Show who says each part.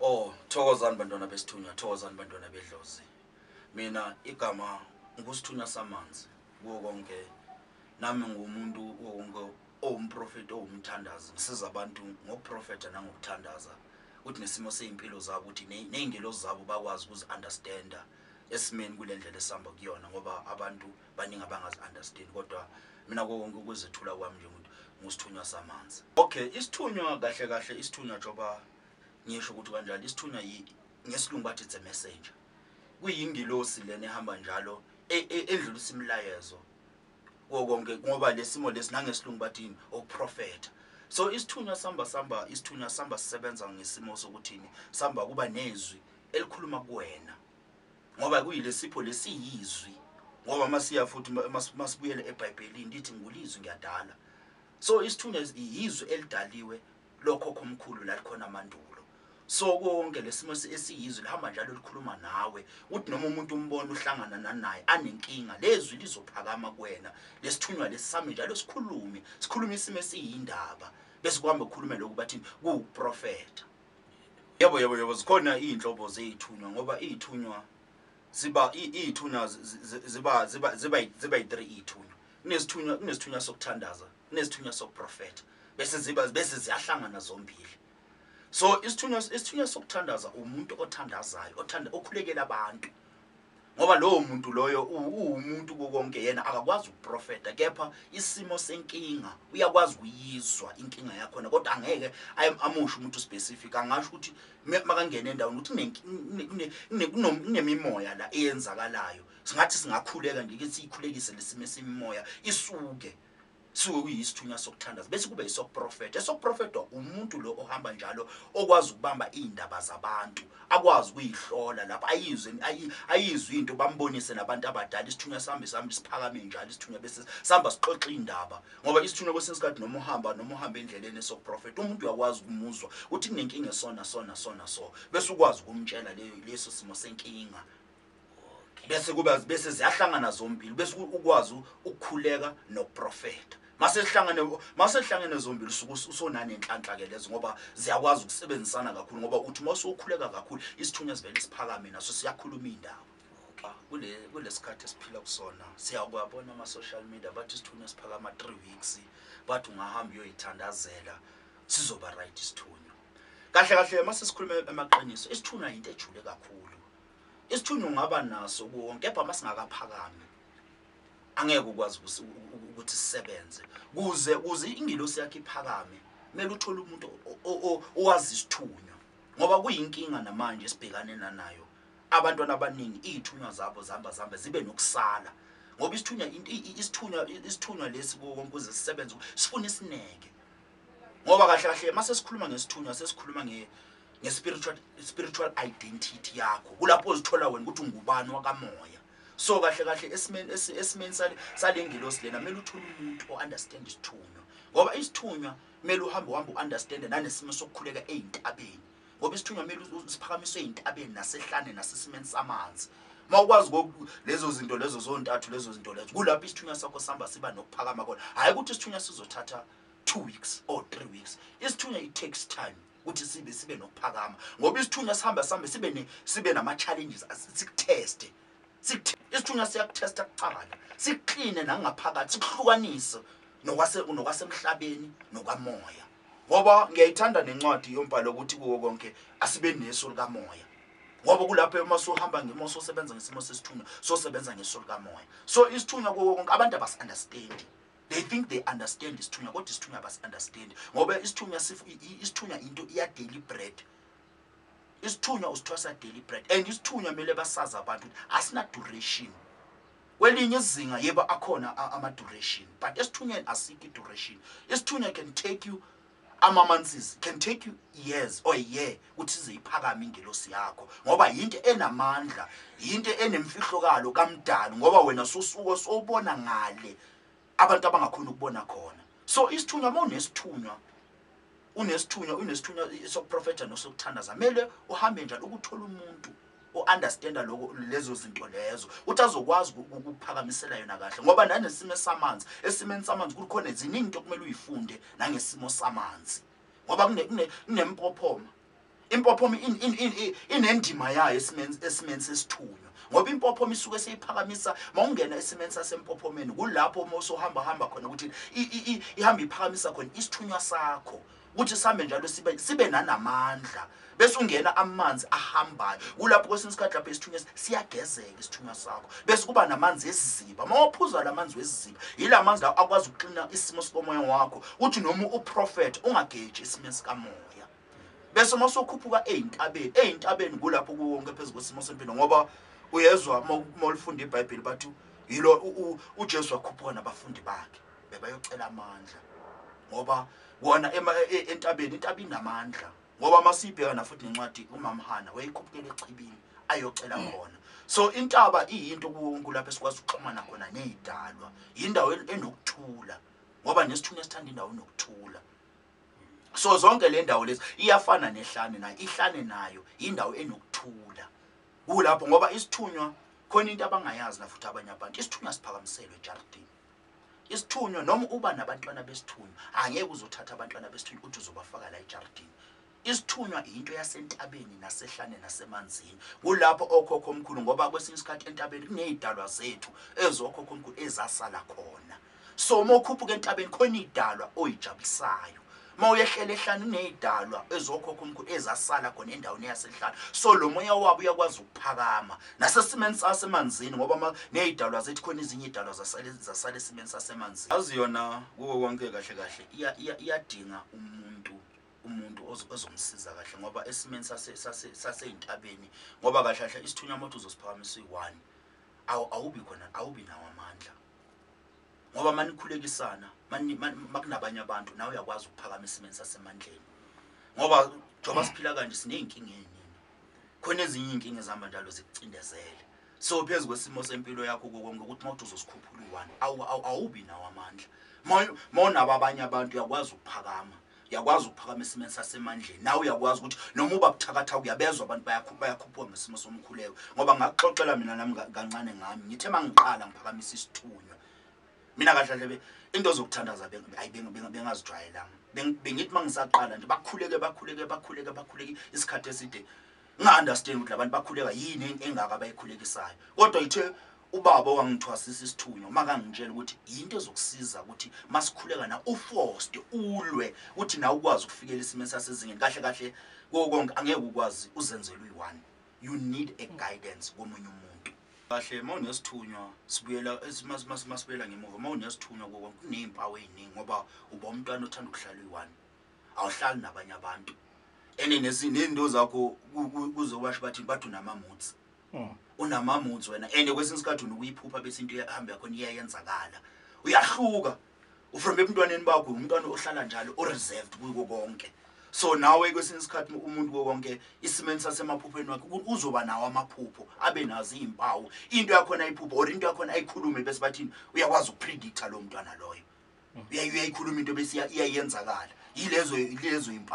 Speaker 1: Oh, thokozani bantwana besithunywa, thokozani bantwana bedlozi. Mina igama ngusithunywa samanzi kuwo konke. Nami ngumuntu wonke owumprofeti owumthandazi ngisiza abantu ngokuprofetha nangokuthandaza ukuthi nesimo sezimpilo zabo ukuthi nezingelozi zabo bakwazi ukuzi understander esimeni kule ndlela esihamba kuyona ngoba abantu baningi abangazi understand kodwa mina konke ukuzethula kwami nje ukuthi ngusithunywa samanzi okay isithunywa kahle kahle isithunywa joba Ngisho ukuthi kanjalo isithunywa yi ngesilungu bathi it's a messenger. Kuyingilosi lena ehamba njalo e, e, endlulisa imilayezo kuwo konke ngoba lesimo lesi nangesilungu bathini okuprofetha. So isithunywa samba samba isithunywa samba sisebenza ngesimo sokuthini samba kuba nezwi elikhuluma kuwena. Ngoba kuyilesipho lesiyizwi ngoba masiya futhi masibuyele eBhayibhelini lithi ngulizwi ngiyadala. So isithunywa yizwi elidaliwe lokhokho omkhulu lalikhona mandulo so konke lesimo esiyizwe lihamba njalo likhuluma nawe uthi noma umuntu umbona uhlangana nanaye anenkinga lezwi lizophakama kuwena lesithunywa lesisame njalo sikhulume sikhulume isimo esiyindaba bese kuhamba kukhulume lokhu bathi kuwuprofetha yebo yebo yebo zikhona izinhlobo zezithunywa ngoba izithunywa ziba izithunywa ziba ziba ziba ziba 3 izithunywa kunesithunywa kunesithunywa sokuthandaza kunesithunywa sokuprofetha bese ziba bese ziyahlangana zombili so isithunywa isithunywa sokuthandaza umuntu othandazayo othanda okhulekela abantu ngoba lowo muntu loyo uwumuntu kukonke yena akakwazi ukuprofeta kepha isimo senkinga uyakwazi ukuyizwa inkinga yakhona kodwa angeke amusho umuntu specific angasho ukuthi makangena endaweni ukuthi kunemimoya la eyenzakalayo singathi singakhuleka nje ukuthi siyikhulekise lesimo semimoya isuke Suke kuyisithunywa sokuthandaza bese kube isokuprofetha. Esokuprofethwa umuntu lo ohamba njalo okwazi ukubamba izindaba zabantu, akwazi ukuyihlola lapha ayizwe ayizwe into bambonise nabantu abadala isithunywa sami sami siphakame njalo isithunywa bese sihamba sixoxa indaba. Ngoba isithunywa kwesinye isikhathi noma uhamba noma uhamba endleleni esokuprofetha umuntu uyakwazi ukumuzwa ukuthi kunenkinga esona sona sona so bese ukwazi ukumtshela leso simo senkinga. bese kuba bese ziyahlangana zombili bese ukwazi ukukhuleka nokuprofeta mase sihlangane mase sihlangene zombili usuku usonane inhlanhla ke lezo ngoba ziyakwazi ukusebenzisana kakhulu ngoba uthi uma usukhuleka kakhulu isithunywa sivele siphakame naso siyakhuluma indaba ah, kule kulesikhathi esiphila kusona siyakwabona ama social media bathi isithunywa siphakama 3 weeks bathi ungahamba uyoyithandazela sizoba right isithunywa kahle kahle mase sikhuluma emaqiniso isithunywa into ejule kakhulu Isithunywa ungaba naso kuwo kepha masingakaphakami angeke ukwazi ukuthi sisebenze kuze kuze ingilosi yakhe iphakame kumele uthole umuntu owazi isithunywa ngoba kuyinkinga namanje esibhekane nanayo abantwana abaningi iy'thunywa zabo zihamba zihambe zibe nokusala ngoba isithunywa isithunywa isithunywa lesi kuwo konke uze sisebenze sifuna isineke ngoba kahle kahle uma sesikhuluma ngesithunywa sesikhuluma nge-spiritual spiritual identity yakho kulapho uzithola wena ukuthi ungubani wakamoya so kahle kahle esimeni esimeni sale ngilosi lena kumele uthole umuntu o-understand isithunywa ngoba isithunywa kumele uhambe uhambe u-understande nanesimo sokukhuleka ey'ntabeni ngoba isithunywa kumele siphakamiswe ey'ntabeni nasehlane nasesimeni samanzi uma ukwazi lezo zinto lezo zontathu lezo zinto lezo kulapho isithunywa sakho sihamba siba nokuphakama kona hhayi ukuthi isithunywa sizothatha two weeks or three weeks isithunywa it takes time ukuthi sibe sibe nokuphakama ngoba isithunywa sihamba sihambe sibe ne sibe nama challenges sikutheste isithunywa siyakuthesta kucabala sikukline nangaphakathi sikuhlukanise nokwase nokwasemhlabeni nokamoya ngoba ngiyayithanda nencwadi yombhalo ukuthi kuwo konke asibe neso likamoya ngoba kulapho uma sohamba ngemo sosebenza ngesimo sesithunywa sosebenza ngeso likamoya so isithunywa kuwo konke abantu abasi-understandi They think they understand isithunywa kodwa isithunywa abasi understand ngoba isithunywa sifu isithunywa into iya daily bread. Isithunywa usithwasa daily bread and isithunywa mele basaza abantu asina duration. Kwelinye izinga yebo akhona ama duration but esithunyweni asiki duration. Isithunywa can take you Amamansis can take you years or a year ukuthi ize iphakame ingelosi yakho ngoba yinto enamandla yinto enemfihlokalo kamdali ngoba wena sosuko sobona ngale abantu abangakhona ukubona khona so isithunywa uma unesithunywa unesithunywa unesithunywa sokuprofetha nosokuthandaza kumele uhambe njalo ukuthola umuntu o-understanda loko lezo zinto lezo ukuthi azokwazi ukukuphakamisela yona kahle ngoba nanesimo esamanzi esimeni samanzi kukhona ziningi into okumele uyifunde nangesimo samanzi ngoba kunempophoma impophoma inendima yayo esimeni esimeni sesithunywa ngoba impophoma isuke seyiphakamisa mawungena esimeni sasempophomeni kulapho uma usuhamba hamba khona ukuthi ihamba iphakamisa khona isithunywa sakho kuthi sihambe njalo sibe sibe nanamandla bese ungena amanzi ahambayo kulapho kwesinye isikhathi lapho isithunywa siyagezeka isithunywa sakho bese kuba namanzi esiziba uma waphuza la manzi wesiziba yila manzi lawo akwazi ukuxina isimo sikomoya wakho uthi noma uprofetha ungageji isimo sikamoya bese uma usukhuphuka ey'ntabeni ey'ntabeni kulapho kuwonke phezu kwesimo sempilo ngoba uyezwa uma ulifunda ibhayibheli bathi yilo ujesu wakhuphuka nabafundi bakhe bebayocela amandla ngoba wona e, e, entabeni intaba inamandla ngoba uma siyibhekana futhi nencwadi umamhana wayekhupukela echibini ayocela khona so intaba iyinto kuwonke lapho esikwazi ukuxhumana khona neyidalwa yindawo enokuthula ngoba nesithunywa esithanda indawo enokuthula so zonke le ndawo lezi iyafana nehlane nayo ihlane nayo yindawo enokuthula kulapho ngoba isithunywa khona into abangayazi na futhi abanye abantu isithunywa siphakamiselwe ejardini isithunywa noma uba nabantwana besithunywa angeke uzothatha abantwana besithunywa uthi uzobafaka la ejaridini isithunywa yinto yasentabeni nasehlane nasemanzini kulapho okhokho omkhulu ngoba kwesinye isikhathi entabeni kuney'dalwa zethu ezokhokho omkhulu ezasala khona so uma ukhuphuka entabeni khona iy'dalwa oy'jabulisayo Uma uyehlela ehlane uney'dalwa ezokhokha umkhulu ezasala khona endaweni yasehlane so lo moya wabo uyakwazi ukuphakama nasesimeni sasemanzini ngoba ney'dalwa zethi khona ezinye iy'dalwa zasala esimeni sasemanzini azi yona kuwo konke kahle kahle iyadinga umuntu umuntu ozomsiza kahle ngoba esimeni sasey'ntabeni ngoba kahle kahle isithunywa mothi uzosiphakamisa uyi-one awubi khona awubi nawo amandla ngoba manikhulekisana makunabanye abantu nawe uyakwazi ukuphakama esimeni sasemandleni ngoba njengoba siphila kanje siney'nkinga ey'ningi khona ezinye iy'nkinga ezihamba njalo zikucindezele so phezu kwesimo sempilo yakho kokonke ukuthi uma uthi uzosikhuphula uyi-one awubi nawo amandla ma unabo abanye abantu uyakwazi ukuphakama uyakwazi ukuphakama esimeni sasemandleni nawe uyakwazi ukuthi noma uba buthakathaka uyabezwa abantu bayakhuphuka ngesimo somkhuleko ngoba ngakuxoxela mina nami kancane ngami ngithe uma ngiqala ngiphakamisa isithunywa mina kahlahlepe into zokuthandaza bengazijwayelanga bengithi uma ngisaqala nje bakhuleke bakhuleke bakhuleke bakhuleke isikhathi eside Nga understand ukuthi labantu bakhuleka yini engaka bayikhulekisayo. Kodwa ithe ubaba wangithwasisa isithunywa makangitshela ukuthi yinto ezokusiza ukuthi masikhuleka na uforced ulwe ukuthi na ukwazi ukufikela isimo sasezingeni kahle kahle konke angeke ukwazi uzenzela uyi-one you need a guidance komunye umuntu kahle uma unesithunywa sibuyela masibuyela ngemuva uma unesithunywa kukonke kuneyimpawu eyiningi ngoba uba umntwana othanda ukuhlala uyi-one awuhlali nabanye abantu ene nezinto zakho kuze kwasho bathi bathi unamamutsi hmm. unamamutsi wena ene kwesinye isikhathi unokuyiphupha bese into ehamba yakho iyayenzakala uyahluka ufrome ebuntwaneni bakho umntwana ohlala njalo oreserved kuko konke so nawe kwesinye isikhathi umuntu konke isimeni sasemaphupheni wakhe uzoba nawo amaphupho abe nazo iy'mpawu into yakhona ayiphupho or into yakhona ayikhulume bese bathini uyakwazi ukupredicta lowo mntwana loyo uyayikhuluma into bese iyayenzakala yilezo yilezo impawu